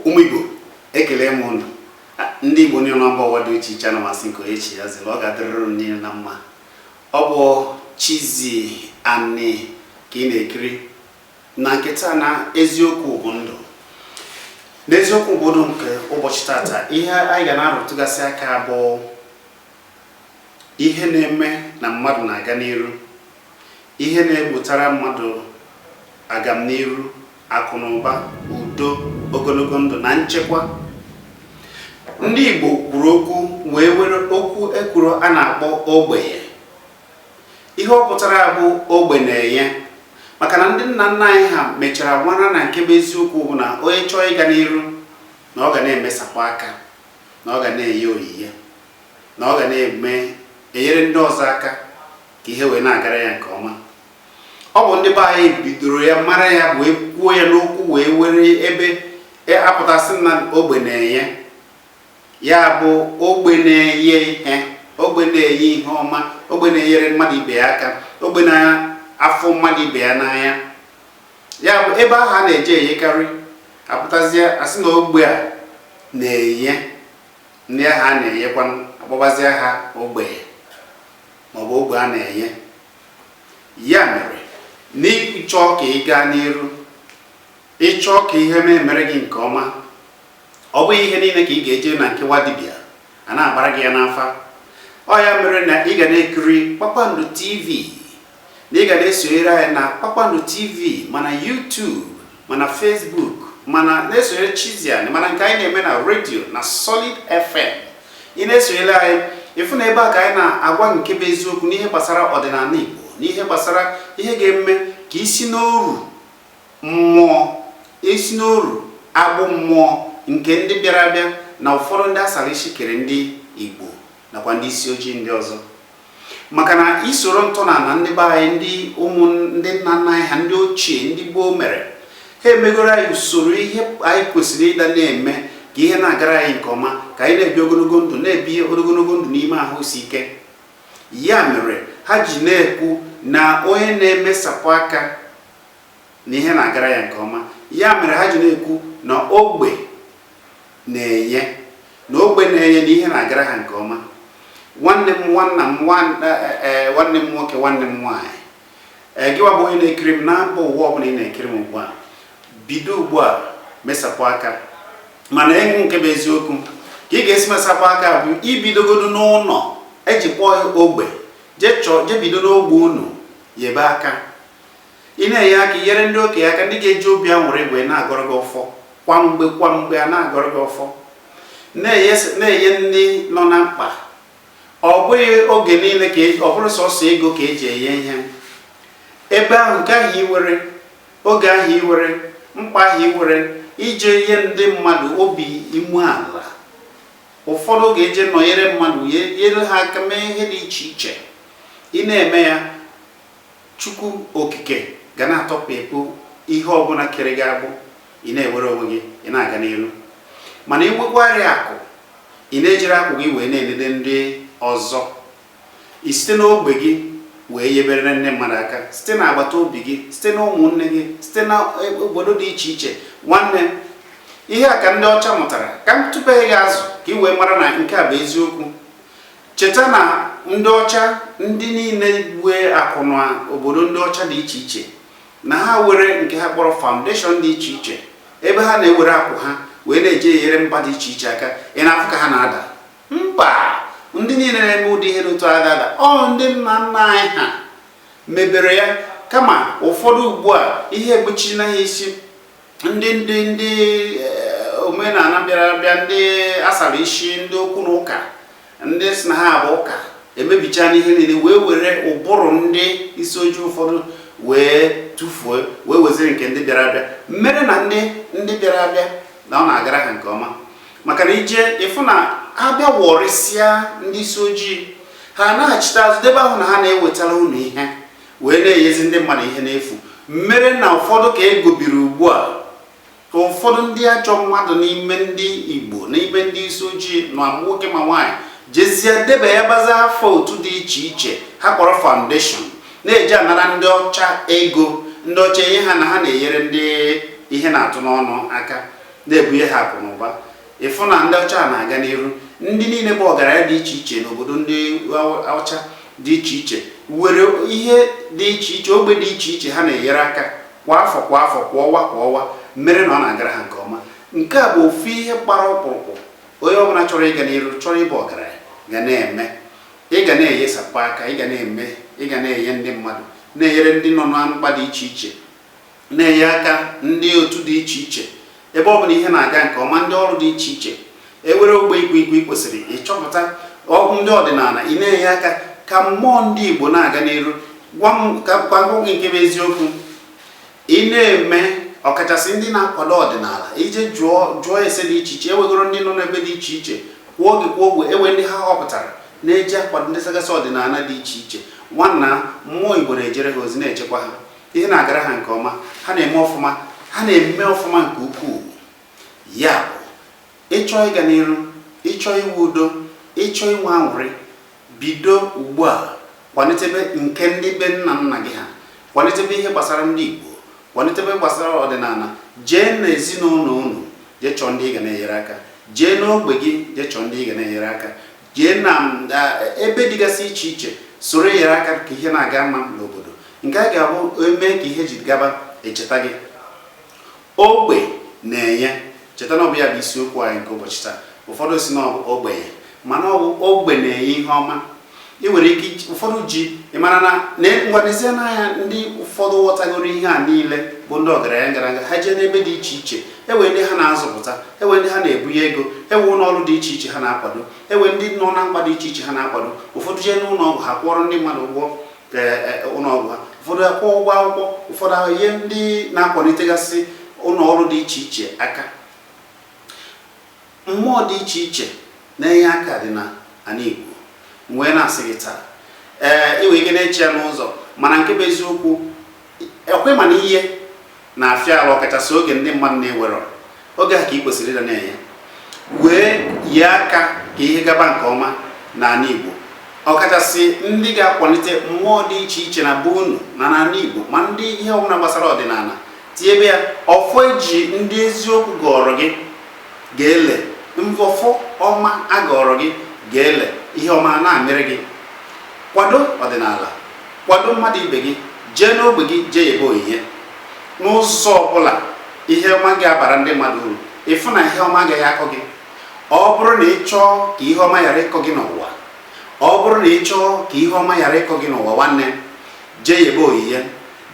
ụmụ Igbo ekele m ụnụ ndị Igbo niile na mba ụwa dị iche iche ana m asị nke onye chi ya zere ọ ga-adịrị ụnụ niile na mma ọ bụ Chizzy Ani ka ị na-ekiri na nke taa na eziokwu bụ ndụ n'eziokwu bụ ndụ nke ụbọchị tata ihe anyị ga na-arụtụgasị aka bụ ihe na-eme na mmadụ na-aga n'iru ihe na-ebutara mmadụ agamniru akụ na ụba udo ogologo ndụ na nchekwa ndị Igbo kwuru okwu wee were okwu e kwuru a na-akpọ ogbenye ihe ọ pụtara bụ ogbe na-enye maka na ndị nna nna anyị ha mechara mara na nke bụ eziokwu bụ na onye chọọ ịga n'iru na ọ ga na-emesapụ aka na ọ ga na-enye onyinye na ọ ga na-enyere ndị ọzọ aka ka ihe wee na-agara ya nke ọma ọ bụ ndị be anyị bidoro ya mara ya wee kwuo ya n'okwu wee were ebe a pụta sị na ogbe na-enye ya bụ ogbe na-enye ihe ogbe na-enye ihe ọma ogbe na-enyere mmadụ ibe ya aka ogbe na-afụ mmadụ ibe ya n'anya ya bụ ebe ahụ a na-eje eyekarị a pụtazie a sị na ogbe a na-enye ndị ahụ a na-enyekwa a kpọbazie ha ogbenye maọbụ ogbe a na-enye ya mere na ị chọọ ka ị gaa n'iru ị chọọ ka ihe na-emere gị nke ọma ọ bụghị ihe niile ka ị ga-eje na nke nwa dibịa a na-agbara gị ya n'afa ọ ya mere na ị ga na-ekiri kpakpando tv na ị ga na-esonyere anyị na kpakpando tv ma na YouTube ma na Facebook ma na na-esonyere Chizzy Ani ma na nke anyị na-eme na redio na Solid FM ị na-esonyere anyị ị fụ na ebe a ka anyị na-agwa nke bụ eziokwu n'ihe gbasara ọdịnala Igbo n'ihe gbasara ihe ga-eme ka i si n'oru Mmụọ, i si n'oru agbụ mmụọ nke ndị bịara abịa na ụfọdụ ndị a sara isi kere ndị Igbo nakwa ndị isi ojii ndị ọzọ. Maka na i soro ntọnala ndị be anyị, ndị ụmụ ndị nna nna anyị ha ndị ochie, ndị gboo mere, ha emegoro anyị usoro ihe anyị kwesịrị ịdị na-eme ka ihe na-agara anyị nke ọma, ka anyị na-ebi ogologo ndụ, na-ebi ogologo ndụ n'ime ahụ isi ike. Ya mere ha ji na-ekwu na onye na-emesapụ aka na ihe na-agara ya nke ọma ya mere ha ji na-ekwu na ogbe na-enye na ogbe na-enye na ihe na-agara ha nke ọma nwanne m nwanna m nwanne m nwoke nwanne m nwaanyị ee gịwa bụ onye na-ekiri m na mba ụwa ọbụla ị na-ekiri m ugbu a bido ugbu a mesapụ aka mana ịhụ nke bụ eziokwu ka ị ga-esi mesapụ aka bụ ibidogodu n'ụlọ e ji kpọọ ogbe jee bido n'ogbe unu yebe aka Ị na-enye aka nyere ndị okenye aka ndị ga-eji obi aṅụrị wee na-agọrọ gị ọfọ kwa mgbe kwa mgbe a na-agọrọ gị ọfọ na-enye ndị nọ na mkpa ọ bụghị oge niile ka e, ọ bụrụ sọsọ ego ka eji enye ihe ebe ahụ nke ahụ i were oge ahụ i were mkpa ahụ i were ije ihe ndị mmadụ obi umeala ụfọdụ oge eje nọnyere mmadụ nyere ha aka mee ihe dị iche iche ị na-eme ya Chukwu Okike ga na-atọpịpụ ihe ọbụla kere gị agbụ, ị na-ewere onwe gị, ị na-aga n'iru. Mana i nwekwarị akụ, ị na-ejiri akụ gị wee na-enede ndị ọzọ. I site n'ogbe gị wee yebere ndị mmadụ aka, site n'agbata obi gị, site na ụmụnne gị, site na e, obodo dị iche iche. Nwanne, ihe a ka ndị ọcha mụtara. Ka m tụpee gị azụ ka ị wee mara na nke a bụ eziokwu. Cheta na ndị ọcha ndị niile were akụ na obodo ndị ọcha dị iche iche na ha were nke ha kpọrọ foundation dị iche iche ebe ha na-ewere akụ ha wee na-eji enyere mba dị iche iche aka ị na-afụ ka ha na-ada mba ndị niile na-eme ụdị ihe dị otu a ada ada ọ ndị nna nna anyị ha mebere ya kama ụfọdụ ugbu a ihe egbochina ha isi ndị ndị ndị eh, omenala bịara abịa ndị a sara isi ndị okwu na ụka ndị si na ha bụ ụka emebichana ihe niile wee were ụbụrụ ndị isi ojii ụfọdụ wee tụfuo wee weziri nke ndị bịara abịa mere na ndị ndị bịara abịa na ọ na-agara ha nke ọma maka na i je ịfụ na a bịa wọrịsịa ndị isi ojii ha anaghachite azụ debe ahụ na ha na-ewetara unu ihe wee na-enyezi ndị mmadụ ihe n'efu mere na ụfọdụ ka e gobiri ugbu a ka ụfọdụ ndị ajọ mmadụ n'ime ndị Igbo n'ime ndị isi ojii na nwoke ma nwaanyị jezie debe ya baza afọ otu dị iche iche ha kpọrọ foundation na-eji anara ndị ọcha ego ndị ọcha enye ha na ha na-enyere ndị ihe na-atụ n'ọnụ aka na-ebunye ha akụ na ụba ị fụ na ndị ọcha na-aga n'iru ndị niile bụ ọgaranya dị iche iche n'obodo ndị ọcha dị iche iche were ihe dị iche iche ogbe dị iche iche ha na-enyere aka kwa afọ kwa afọ kwa ọwa kwa ọwa mere na ọ na-agara ha nke ọma nke a bụ ofu ihe gbara ọkpụrụkpụ onye ọbụla chọrọ ịga n'iru chọrọ ịbụ ọgaranya ga na-eme ị ga na-eyesapụ aka ị ga na-eme ị ga na-enye ndị mmadụ na-enyere ndị nọ na mkpa dị iche iche na-enye aka ndị otu dị iche iche ebe ọ bụla ihe na-aga nke ọma ndị ọrụ dị iche iche e were ogbe ikwu ikwu ị kwesịrị ịchọpụta ndị ọdịnala ị na-enye aka ka mmụọ ndị Igbo na-aga n'iru gwa m ka gwa gị nke bụ eziokwu ị na-eme ọkachasị ndị na-akwado ọdịnala i je jụọ jụọ ese dị iche iche e wegoro ndị nọ n'ebe dị iche iche kwuo oge kwuo ogbe ewe ndị ha họpụtara na-eji akwado ndị sagasị ọdịnala dị iche iche nwanna mmụọ Igbo na-ejere ha ozi na-echekwa ha ihe na-agara ha nke ọma ha na-eme ọfụma ha na-eme ọfụma nke ukwuu ya bụ ịchọ ịga n'iru ịchọ inwe udo ịchọ inwe anwụrị bido ugbu a kwalitebe nke ndị be nna nna gị ha kwalitebe ihe gbasara ndị Igbo kwalitebe gbasara ọdịnala jee na ezinụlọ unu jee chọọ ndị ị ga na-enyere aka jee n'ogbe gị jee chọọ ndị ị ga na-enyere aka jee na ebe dịgasị iche iche soro enyere aka ka ihe na-aga mma n'obodo nke a ga-abụ eme ka ihe ji gaba echeta gị ogbe na-enye cheta na ọ bụ ya bụ isiokwu anyị nke ụbọchị taa ụfọdụ si na ọ bụ ogbenye mana ọ bụ ogbe na-enye ihe ọma ị nwere ike ụfọdụ ji ị mara na ngwanezie n'anya ndị ụfọdụ ghọtagoro ihe a niile bụ ndị ọgaranya gara aga ha jee n'ebe dị iche iche enwere ndị ha na-azụpụta enwere ndị ha na-ebunye ego enwe ụlọ ọrụ dị iche iche ha na-akwado enwe ndị nọ na mkpa dị iche iche ha na-akwado ụfọdụ jee n'ụlọ ọgwụ ha kwụọrọ ndị mmadụ ụgwọ e, e, ụlọ ọgwụ ha ụfọdụ akwụọ ụgwọ akwụkwọ ụfọdụ enye ndị na-akwalitegasị ụlọ ọrụ dị iche iche aka Mmụọ dị iche iche na-enye aka dị na ana Igbo. M wee na-asị gị taa, ee, ị nwere ike na-eche ya n'ụzọ, mana nke bụ eziokwu, ọkwa ịma na ihe na-afịa arụ ọkachasị oge ndị mmadụ na-ewerọ oge a ka ị kwesịrị ịdị na-enye wee yee aka ka ihe gaba nke ọma n'ala Igbo ọkachasị ndị ga-akwalite mmụọ dị iche iche na be unu na n'ala Igbo ma ndị ihe ọbụla gbasara ọdịnala tinyebe ya ọfọ eji ndị eziokwu gọọrọ gị ga-ele ngọfọ ọma a gọọrọ gị ga-ele ihe ọma na-amịrị gị kwado ọdịnala kwado mmadụ ibe gị jee n'ogbe gị jee yebe onyinye n'ụzọ ọbụla ihe ọma ga-abara ndị mmadụ uru ịfụ na ihe ọma agaghị akọ gị ọ bụrụ na ị chọọ ka ihe ọma ghara ịkọ gị n'ụwa ọ bụrụ na ị chọọ ka ihe ọma ghara ịkọ gị n'ụwa nwanne jee yebe onyinye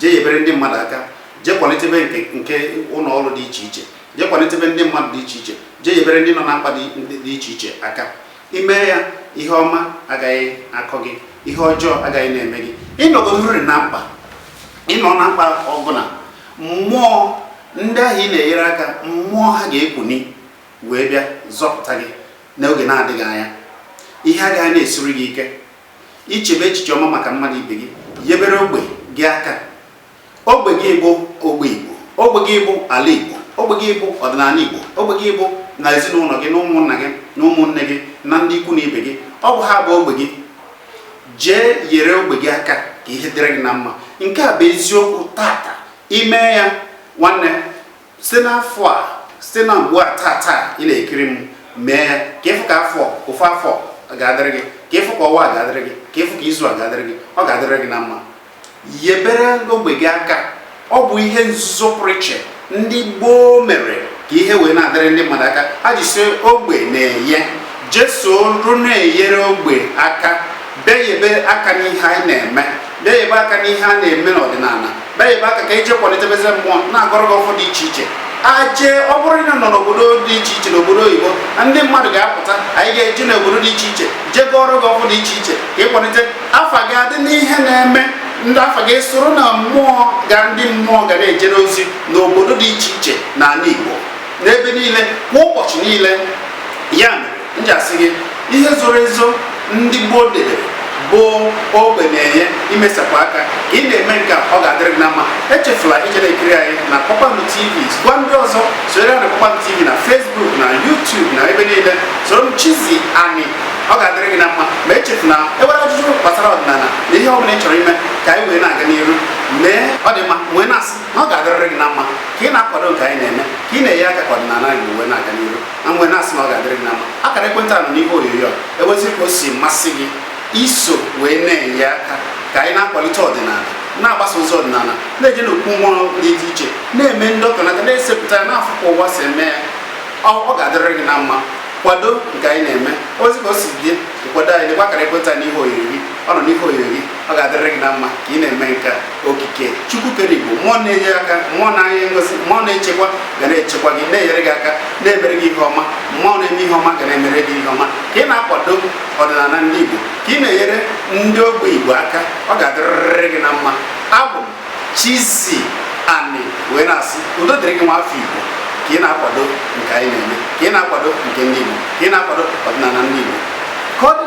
jee yebere ndị mmadụ aka jee kwalitebe nke ụlọ ọrụ dị iche iche jee kwalitebe ndị mmadụ dị iche iche jee yebere ndị nọ na mkpa dị iche iche aka i mee ya ihe ọma agaghị akọ gị ihe ọjọọ agaghị na-eme gị ịnọgodoriri na mkpa ịnọ na mkpa ọbụla mmụọ ndị ahụ ị na-enyere aka mmụọ ha ga-ekuni wee bịa zọpụta gị n'oge na-adịghị anya ihe agaghị na-esiri gị ike ichebe echiche ọma maka mmadụ ibe gị yebere ogbe gị aka Ogbe gị bụ ogbe Igbo, ogbe gị bụ ala Igbo, ogbe gị bụ ọdịnala Igbo, ogbe gị bụ na ezinụlọ gị na ụmụnna gị na ụmụnne gị na ndị ikwu na ibe gị ọ bụ ha bụ ogbe gị jee yere ogbe gị aka ka ihe dịrị gị na mma nke a bụ eziokwu tata i mee ya nwanne site n'afọ a site na ugbu a taa taa ị na-ekiri m mee ya ka ị fụ ka afọ ofu afọ ga-adịrị gị ka ị fụ ka ọnwa ga-adịrị gị ka ị fụ ka izu a ga-adịrị gị ọ ga-adịrị gị na mma yebere ogbe gị aka ọ bụ ihe nzuzo pụrụ iche ndị gboo mere ka ihe wee na-adịrị ndị mmadụ aka ha ji sị ogbe na-enye jee soro na-eyere ogbe aka bịa yebe aka n'ihe anyị na-eme bịa yebe aka n'ihe a na-eme n'ọdịnala bịa yebe aka ka e jee kwalitebezi mmụọ na-agọrọ gị ọfọ dị iche iche aje ọ bụrụ na ị nọ n'obodo dị iche iche n'obodo oyibo na ndị mmadụ ga-apụta anyị ga-eje n'obodo dị iche iche jee gọọrọ gị ọfọ dị iche iche ka ị kwalite afa gị adị n'ihe na-eme ndị afa gị soro na mmụọ ga ndị mmụọ ga na-eje n'ozi n'obodo dị iche iche n'ala Igbo n'ebe niile kwa ụbọchị niile ya mere m ji asị gị ihe zoro ezo ndị gboo debere bụ ogbe na-enye imesapụ aka ka ị na-eme nke a ọ ga-adịrị gị na mma echefula ije na-ekiri anyị na Kpakpando TV gwa ndị ọzọ soro ya na Kpakpando TV na Facebook na YouTube na ebe niile soro m Chizzy Ani ọ ga-adịrị gị na mma ma echefula i nwere ajụjụ gbasara ọdịnala na ihe ọ bụla ị chọrọ ime ka anyị wee na-aga n'iru mee ọ dị mma wee na-asị na ọ ga-adịrịrị gị na mma ka ị na-akwado nke anyị na-eme ka ị na-enye aka ka ọdịnala anyị wee na-aga n'iru na m wee na-asị na ọ ga-adịrị gị na mma akara ekwentị a nọ n'ihe onyonyo a ewezi ka o si masị gị iso wee na-enye aka ka anyị na-akwalite ọdịnala na-agbasa ozi ọdịnala na-eje n'okwu mmụọ dị iche iche na-eme ndọkọnata na-esepụta ya na-afụkwa ụwa si eme ya ọ ga-adịrị gị na mma kwado nke anyị na-eme ewezi ka o si dị kwado anyị lekwa akara ekwentị n'ihe onyonyo gị ọ nọ n'ihe onyonyo gị ọ ga-adịrị gị na mma ka ị na-eme nke a okike chukwu kere igbo mmụọ na-enye aka mmụọ na-enye ngọzi mmụọ na-echekwa ga na-echekwa gị na-enyere gị aka na-emere gị ihe ọma mmụọ na-eme ihe ọma ga na-emere gị ihe ọma ka ị na-akwado ọdịnala ndị igbo ka ị na-enyere ndị ogbe igbo aka ọ ga-adịrịrị gị na mma abụ Chizzy Ani wee na-asị udo dịrị gị nwa afọ Igbo ka ị na-akwado nke anyị na-eme ka ị na-akwado nke ndị Igbo ka ị na-akwado ọdịnala ndị Igbo ka ọ dị